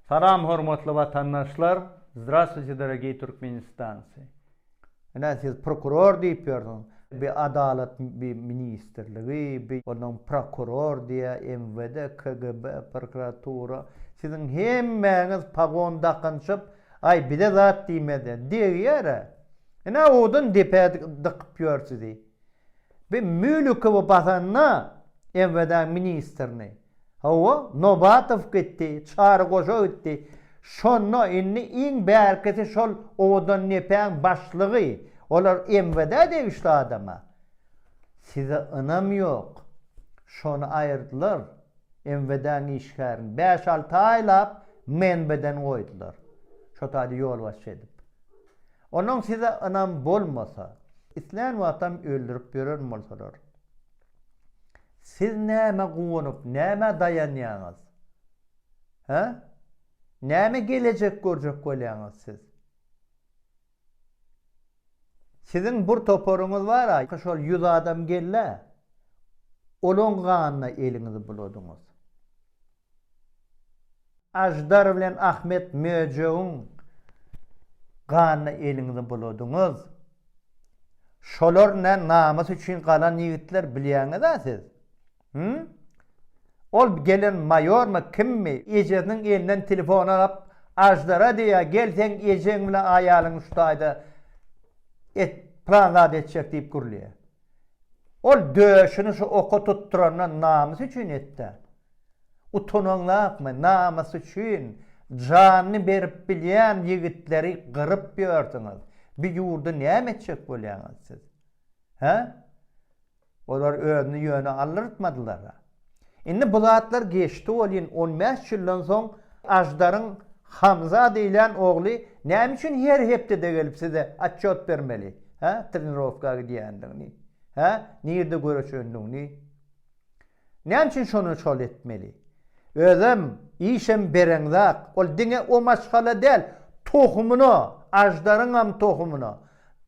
Salam hormatly watandaşlar Zdravstwuyte dorogiý Türkmenistancy Ine siz prokuror diýip ýörsiňiz bi adalat bi ministrligi bi onuň prokuror diýä MWD KGB prokuratura siziň hemmäňiz pagon dakynşyp aý bize zat diýmezä degýärä ine owadan depä dykyp ýör sizi bi mülükowy basanda MWD-niň ministrini. Hawa, Nobatow gitdi, Çary goja gitdi. Şonda indi iň bärkisi şol Owadandepäň başlygy. Olar MVD-ä degişli adam-a. Size ynam ýok. Şony aýyrdylar, MVD-niň işgärini. Bäş-alty aýlap MNB-den goýdular. Şo taýda ýolbaşçy edip. Onuň size ynam bolmasa, islän wagtam öldürip ýören bolsalar. Siz nämä guwanyp, nämä daýanýaňyz? Hä? Näme gelejek görjek bolýaňyz siz? Siziň bir toparyňyz bar-a, şol ýüz adam geldi-ä. Olaň ganyna eliňizi buladyňyz. Aždar bilen Ahmet möjegiň ganyna eliňizi buladyňyz. Şolar nä namys üçin galan ýigitler bilýäňiz-ä siz? Hümm? Ol gelen maýormy, kimmi? Ejesiniň elinden telefony alyp, Aždara diýýär, Gel seň ejeň bilen aýalyň şu taýda et, plan zat etjek diýip gürleýär. Ol döşüni şu oka tutdurandan namys üçin etdi-ä. Utanaňlapmy namys üçin janyny berip bilýän ýigitleri gyryp ýörsüňiz, bi ýurdy näme etjek bolýaňyz siz? Hä? Olar özüni ýöne aldyrtmadylara. Indi bu zatlar geçdi welin on bäş ýyldan soň Aždaryň Hamza diýlen ogly näme üçin her hepdede gelip size atçot bermeli? Hä? Trenirowka gidýändigini. Hä? Nirde göreşendigini. Näme üçin şony şol etmeli? Özem, işem bereňzak, ol diňe o maşgala däl, tohumyna, aždaryňam tohumyna,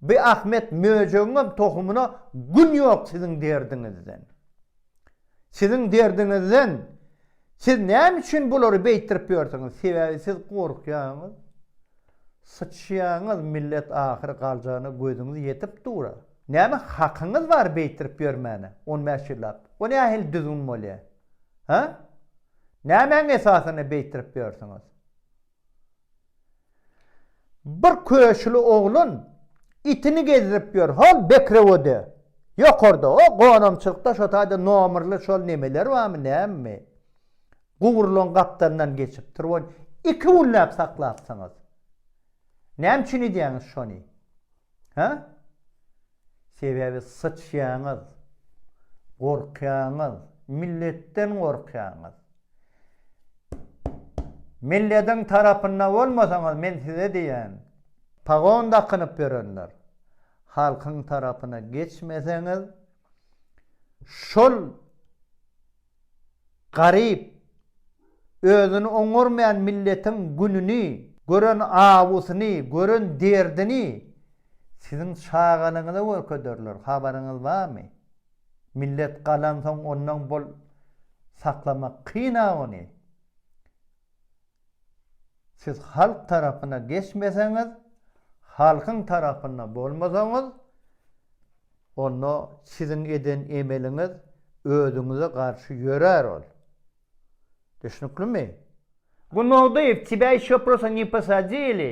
bi Ahmet möjegiňem tohumyna gün ýok siziň derdiňizden. Siziň derdiňizden, siz näme üçin bulary beýtdirip ýörsüňiz? Sebäbi siz gorkýaňyz. Syçýaňyz, millet ahyry galjana gözüňiz ýetip dur-a. Näme hakyňyz bar beýtirip ýörmäne, on bäş ýyllap? O nähili düzgün bolýa? Hä? Nämäň esasynda beýtirip ýörsüňiz? Bir köşüli oglan itini gezdirip ýör, hol Bekrewode, ýokarda, o gonamçylykda şo taýda nomerli şol nemeler barmy, nämemi? Gurulan gapdalyndan geçipdir, ony iki günläp saklapsyňyz. Näme üçin edýäňiz şony? Hä? Sebäbi syçýaňyz. Gorkýaňyz. Milletden gorkýaňyz. Milletiň tarapynda bolmasaňyz men size diýýän. Pagon dakynyp ýörenler. Halkyň tarapyna geçmeseňiz şol Garyp, özüni oňarmaýan milletiň gününi gören awusyny, gören derdini siziň çagalygyňyza görkezerler, habaryňyz barmy? Millet galansoň ondan bol saklamak kyn-a ony. Siz halk tarapyna geçmeseňiz, halkyň tarapynda bolmasaňyz, onda siziň eden emeliňiz özüňize garşy ýörär ol. Düşnüklimi? Gunnogdyýew, Тебя ýeşo prosto ne posadili?